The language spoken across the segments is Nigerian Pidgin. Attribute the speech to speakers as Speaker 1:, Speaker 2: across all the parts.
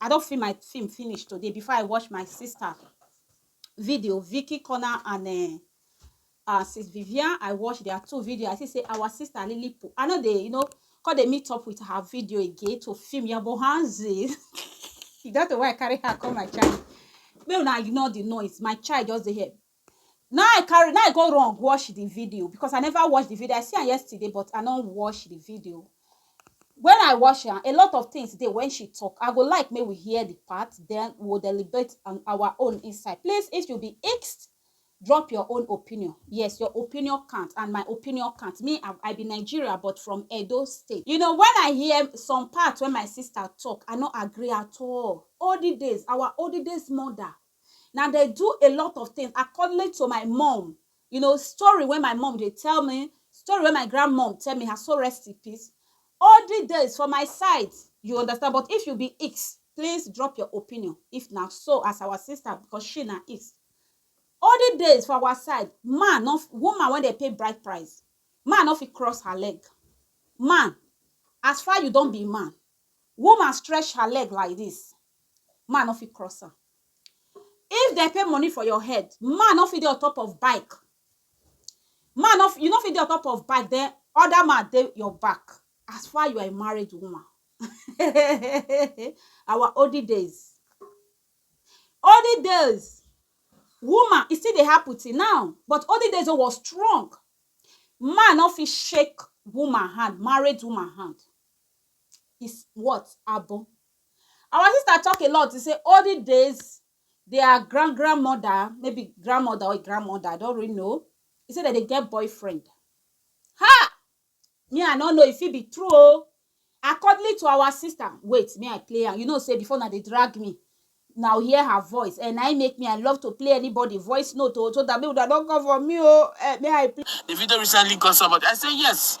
Speaker 1: I don film my film finish today before I watch my sister video, Vicky Corner and uh, uh, sis Vivian. I watch their two video. I see say our sister Lily Poo. I know they, you know, cause they meet up with her video again to film your bohanzi. That's why I carry her come my child. May una ignore the noise. My child just dey here. Na I carry na I go run watch the video because I never watch the video I see am yesterday but I no watch the video when I watch am a lot of things dey when she talk I go like make we hear the part then we will deliberate on our own inside please if you be ext drop your own opinion yes your opinion count and my opinion count me I, I be Nigeria but from Edo state you know when I hear some part when my sister talk I no agree at all olden days our olden days mother na dey do a lot of things accordingly to my mom you know story wey my mom dey tell me story wey my grandmom tell me her soul rest in peace all the days for my side you understand but if you be X please drop your opinion if na so as our sister because she na X olden days for our side man no woman wey dey pay bride price man no fit cross her leg man as far you don be man woman stretch her leg like this man no fit cross am if dem pay money for your head man no fit dey on top of bike man no you no fit dey on top of bike then other man dey your back as far you are a married woman our olden days olden days woman e still dey happen till now but olden days o was strong man no fit shake woman hand married woman hand is what abo Our sister talk a lot say olden days their grand grand mother maybe grand mother or grand mother I don't really know e say dem dey get boyfriend ha me I no know e fit be true oh accordingly to our sister wait me I play am you know say before una dey drag me na hear her voice and na im make me I love to play anybody voice note oh so that make una no come for me oh eh me I play. The video recently got
Speaker 2: so much. I say yes.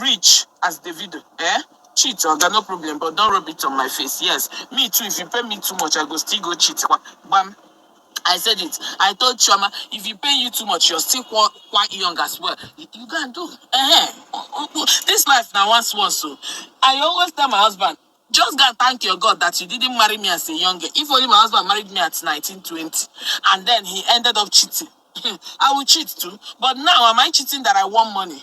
Speaker 2: rich as Davido eh cheat oga no problem but don't rub it on my face yes me too if you pay me too much I go still go cheat kwa gbam I said it I told Chioma if you pay you too much you're still kwa kwa young as well you, you go and do eh this life na once once o I always tell my husband just go and thank your God that you didn't marry me as a young girl if only my husband married me at nineteen twenty and then he ended up cheating I will cheat too but now am I cheating that I want money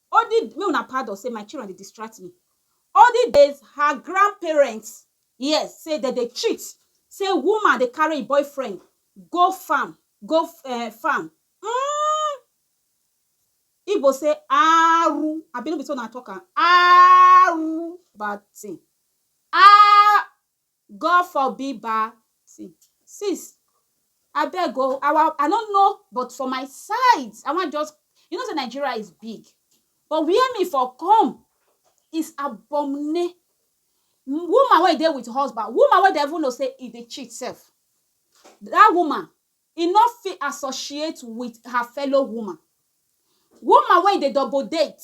Speaker 1: All the make una pardon say my children dey distract me. All the days her grandparents hear say dem dey cheat, say woman dey carry im boyfriend go farm, go um farm um Igbo say aaru abi no be so una talk am? aaru bad thing aa. God forbid ba see sis abeg o our I no know but for my side I wan just you know say Nigeria is big but where me for come is abomne woman wey dey with husband woman wey dem even know say e dey cheat sef that woman E no fit associate wit her fellow woman. Woman wey e dey double date,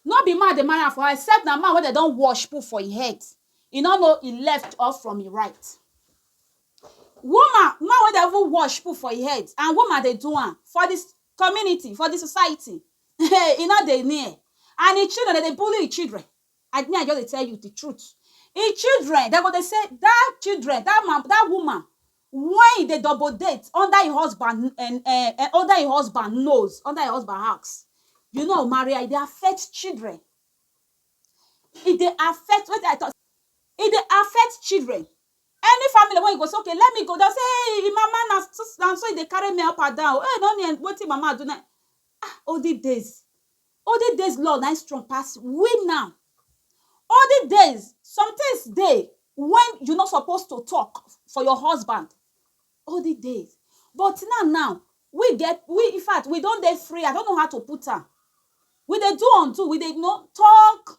Speaker 1: no be man dey marry am for her except na man wey dem don wash put for im head, e no know im left or from im right. Woman, man wey dem even wash put for im head and woman dey do am for di community, for di society, hey, e no dey near. And im children, dem dey bully im children. I, me I just dey tell you di truth. Im children, dem go dey say, dat children, dat man, dat woman Wen e dey double date under im husband um um under im husband nose, under im husband house, you know Maria e dey affect children, e dey affect wetin I talk, e dey affect children, any family wey you go say okay let me go dem go say eeh im mama na so e dey carry me up and down, eeh no me wetin im mama do na im, ah olden days Olden days law na im strong pass we now. Olden days, some things dey when you no suppose to talk for your husband, olden days but now now we get we infact we don dey free I don't know how to put am we dey do undo we dey you know talk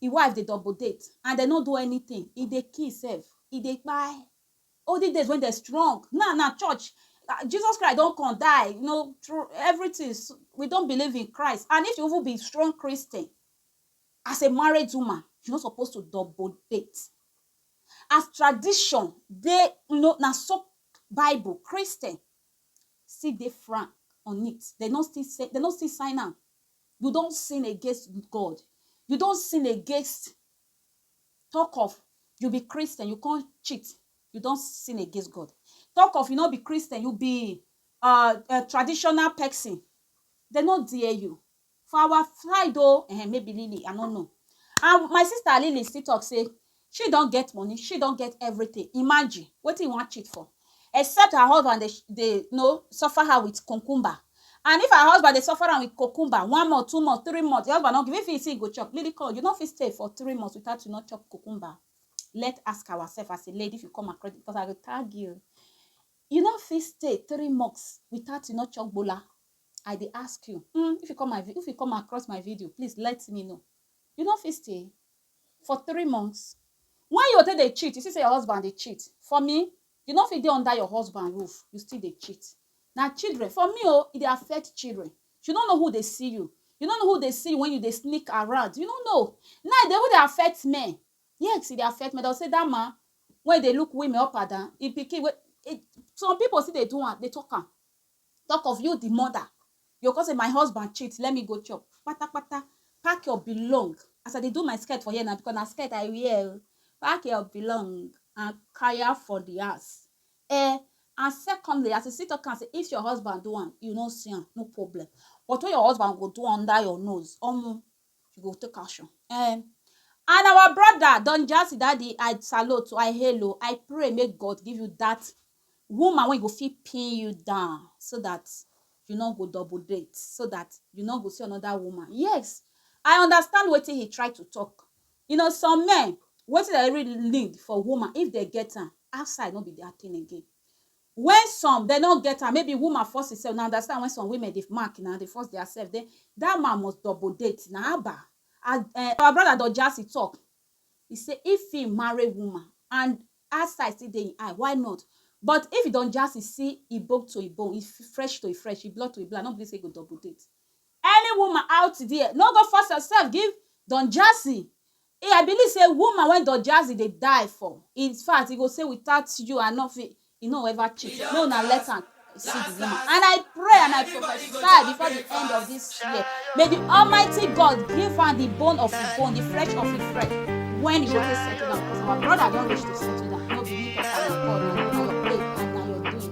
Speaker 1: Im wife dey double date and dem no do anything, e dey kill sef, e dey kpai. Olden days when dem strong, now na church, Jesus Christ don come die, you know through everything, we don believe in Christ and if you even be strong Christian, as a married woman, you no suppose to double date. As tradition dey, you know na so bible, Christian still dey frank on it, dem no still say, dem no still sign am. you don sin against God, you don sin against talk of you be Christian, you come cheat, you don sin against God. Talk of you no be Christian, you be uh, a traditional person. They no dare you. For our side, oh, eh, maybe Lily, I don't know. And my sister Lily still talk say, she don get money she don get everything imagine wetin you wan cheat for except her husband dey dey no suffer her with concumber and if her husband dey suffer am with concumber one month two month three month the husband no give if he see he go chop lily call you no fit stay for three months without you no chop concumber let ask ourselves as a lady if you come across because i go tag you you no fit stay three months without you no chop gbola i dey ask you mm, if you come my vi- if you come across my video please let me know you no fit stay for three months Why you go take dey cheat you see say your husband dey cheat for me you no fit dey under your husband roof you still dey cheat na children for me o e dey affect children you no know who dey see you you no know who dey see you when you dey sneak around you no know now e dey even dey affect men yes e dey affect men dem go say that man wey dey look women up and down him pikin wey some people still dey do am dey talk am Talk of you the mother you go come say my husband cheat let me go chop patapata pack your belong as I dey do my skirt for here na because na skirt I wear o pack your belong and kaya for the house eh and secondly as you still talk am say if your husband do am you no see am no problem but when your husband go do under your nose omo you go take action um and our brother Don Jazzy daddy I salute I hail o I pray make God give you that woman wey go fit pin you down so that you no go double date so that you no go see another woman yes I understand wetin he try to talk you know some men wetin dem really need for woman if dem get am outside no be their thing again Wen some dem no get am, maybe woman force himself, una understand wen some women dey mark na, dey force dia sef, den dat man must double date na, haba! As um our brother Don Jazzy talk, he say if he marry woman and outside still dey im eye, why not? But if Don Jazzy see im bone to im bone, im fresh to im fresh, im blood to im blood, no be say he go double date. Any woman out there, no go force yourself give Don Jazzy, Eh I believe say woman wey Don jazzy dey die for in fact he go say without you I no fit he no ever cheat make una let am see the woman and I pray and I prophesy before the end of this year may the almighty God give am the bone of him bone the fresh of him fresh when he go take settle down because our brother don reach to settle down no be me talk am na God na your play and na your doing.